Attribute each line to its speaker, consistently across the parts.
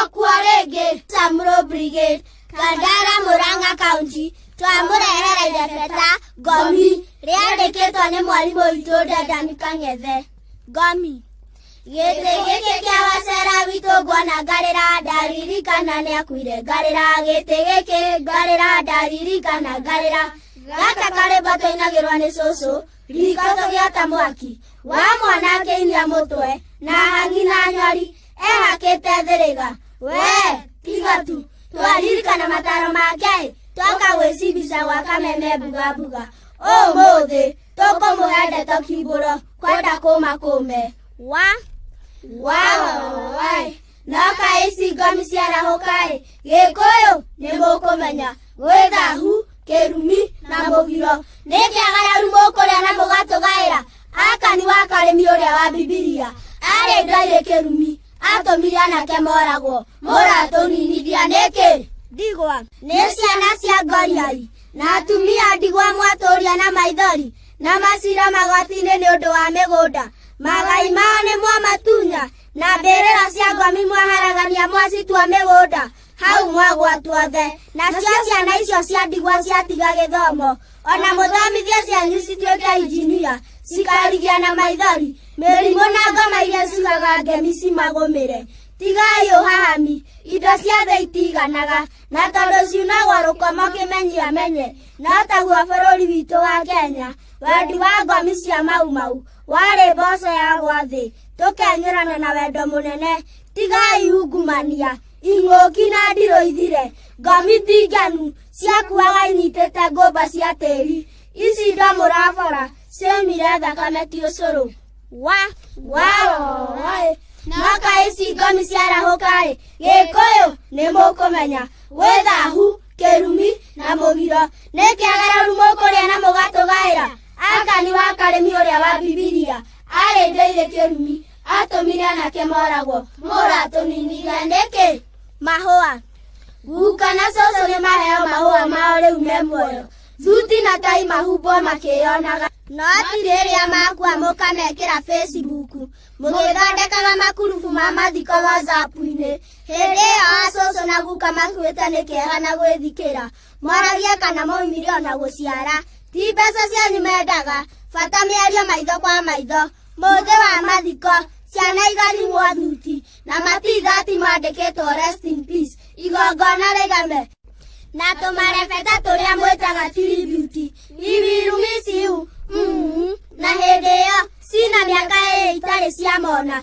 Speaker 1: okwo rĩngĩ Tamro Brigade Kandara Murang'a County twamũrehere irebeta ngomi rĩandĩkĩtwo nĩ mwarimũ witũ Dedan Kang'ethe ngomi gĩtĩ gĩkĩ kĩa wacera witũ nguona ngarĩra ndaririkana nĩ akuire ngarĩra gĩtĩ gĩkĩ ngarĩra ndaririkana ngarĩra gaka karĩmba kainagĩrwa nĩ cũcũ Rikoto gĩata mwaki wa mwanangĩinia mũtwe na hangi na nyori ehakĩte thĩrĩga wee tiga tu twaririkana mataro make twoka gwĩcibica gwa kameme mbuga mbuga ũmũthĩ tũkũmũhe ndeto kimbũro kwenda kũma kũme wa wa wa wa no kaĩ cingomi ciarahũka-ĩ gĩkũyũ nĩ mũkũmenya gwĩthahu kĩrumi na mũgiro nĩ kĩagararu mũkũrĩa na mũgatũgaĩra akani wa karĩmi ũrĩa wa bibilia arĩ ndoirĩ kĩrumi atũmire anake moragwo mũratũninithia nĩkĩ ndigwa nĩ ciana cia ngoriai na atumia ndigwa mwatũria na maithori na macira magoti-inĩ nĩ ũndũ wa mĩgũnda magai mao nĩ mwamatunya na mbĩrĩra cia ngomi mwaharagania mwacitua mĩgũnda hau mwagwa tuothe nacio ciana icio cia ndigwa ciatiga gĩthomo ona mũthomithie cianyu cituĩke injinia cikarigia na maithori mĩrimũ na ngoma iria cigaga ngemi cimagũmĩre tigai ũhahami indo ciothe itiganaga na tondũ ciunagwo rũkomo kĩmenyi amenye no taguo bũrũri witũ wa kenya wendi wa ngomi cia maumau warĩ mboco yagwa thĩ tũkenyũrana na wendo mũnene tigai ungumania ing'ũki na ndirũ ithire ngomi ndinganu ciakuaga inyitĩte ngũmba cia tĩri ici ndo mũrabora ciaumire thakame ti ũcũrũ wa waoĩ noka ici ngomi ciarahũkaĩ gĩkũyũ nĩ mũkũmenya gwĩthahu kĩrumi na mũgiro nĩ kĩagararu mũkũrĩa na mũgatũgaĩra Akani wa Karemi ũrĩa wa Bibilia aarĩ ndĩirĩ kĩrumi, aatũmire anake moragwo. Mũratũninire nĩkĩ? Mahũa. Guka na cũcũ nĩ maheo mahũa mao rĩu me muoyo. Thuti na tai mahumbwo makĩyonaga. No atiri rĩrĩa makua mũkamekĩra Facebook. Mũgĩthondekaga makurubu ma mathiko WhatsApp-inĩ. Hĩndĩ ĩyo acũcũ na guka makuĩte nĩ kĩeha na gwĩthikĩra. mwaragia kana maumire ona gũciara ti mbeca cianyu mendaga bata mĩario maitho kwa maitho mũthĩ wa mathiko ciana igarimwo thuti na matithati mandĩkĩtwo rest in peace igongona rĩgame na tũmarebeta tũrĩa mwĩtaga tiributi iwirumisiu mm, na hĩndĩ ĩyo cina mĩaka ĩĩ itarĩ ciamona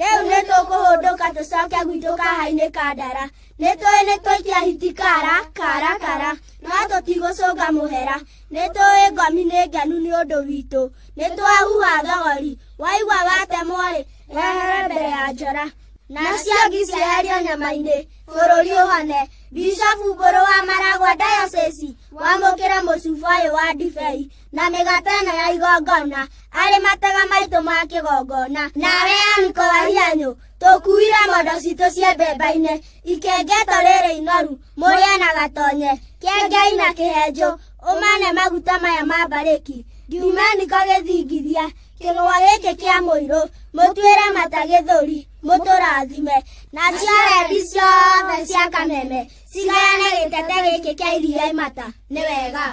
Speaker 1: rĩu nĩ tũkũhũndũka tũcoke gwitũ kahainĩ ka ndara nĩ tũĩ nĩ tũikia hiti kara kara kara no tũtigũcũnga mũhera nĩ tũĩ ngomi nĩ ngenu nĩ ũndũ witũ nĩ twahuha thogori waigua watemwo-rĩ wehere mbere ya njora nacio ngi cieherio nyama-inĩ bũrũri ũhone bishofu mbũrũ wa maragwa dayosesi wamũkĩra mũcuba ũyũ wa ndibei na mĩgate ĩno ya igongona arĩ matega maitũ ma kĩgongona nawe aniko wa hianyũ tũkuire mondo citũ cia mbemba-inĩ ikengeto rĩrĩ inoru mũrĩe na gatonye kengei na kĩhenjũ ũmane maguta maya ma mbarĩki ngiumaniko gĩthingithia kĩgwa gĩkĩ kĩa mũirũ mũtuĩre mata gĩthũri mũtũrathime na ciarendi ciothe cia kameme cigayane gĩtete gĩkĩ kĩa iria imata nĩ wega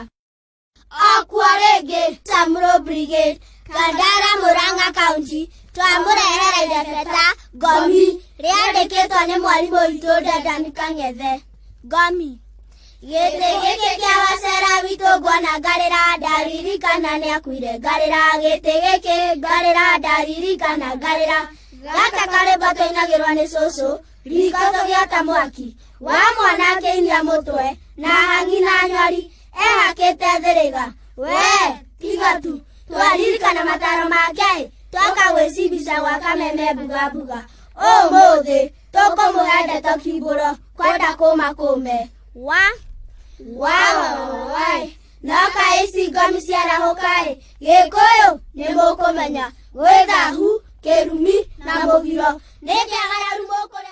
Speaker 1: okwa rĩngĩ Tamro Brigade Kandara Murang'a County twamũrehere irebeta ngomi rĩandĩkĩtwo nĩ mwarimũ witũ Dedan Kang'ethe ngomi gĩtĩ gĩkĩ kĩa wacera witũ ngwona ngarĩra ndaririkana nĩ akuire ngarĩra gĩtĩ gĩkĩ ngarĩra ndaririkana ngarĩra gaka karĩmbo tũinagĩrwo nĩ cũcũ riko tũgĩota mwaki wa mwana akĩinia mũtwe na hangi na nyori ehakĩte thĩrĩga wee tiga tu twaririkana mataro ma ngai twoka gwĩcibica gwa kameme mbugambũga ũmũthĩ tũkũmũhe ndeto kimbũro kwenda kũma kũme wa wawawai noka ici ngomi ciarahũkaĩ gĩkũyũ nĩ mũkũmenya gwĩthahu kĩrumi na mũgiro nĩ kĩagararu mũkũrĩa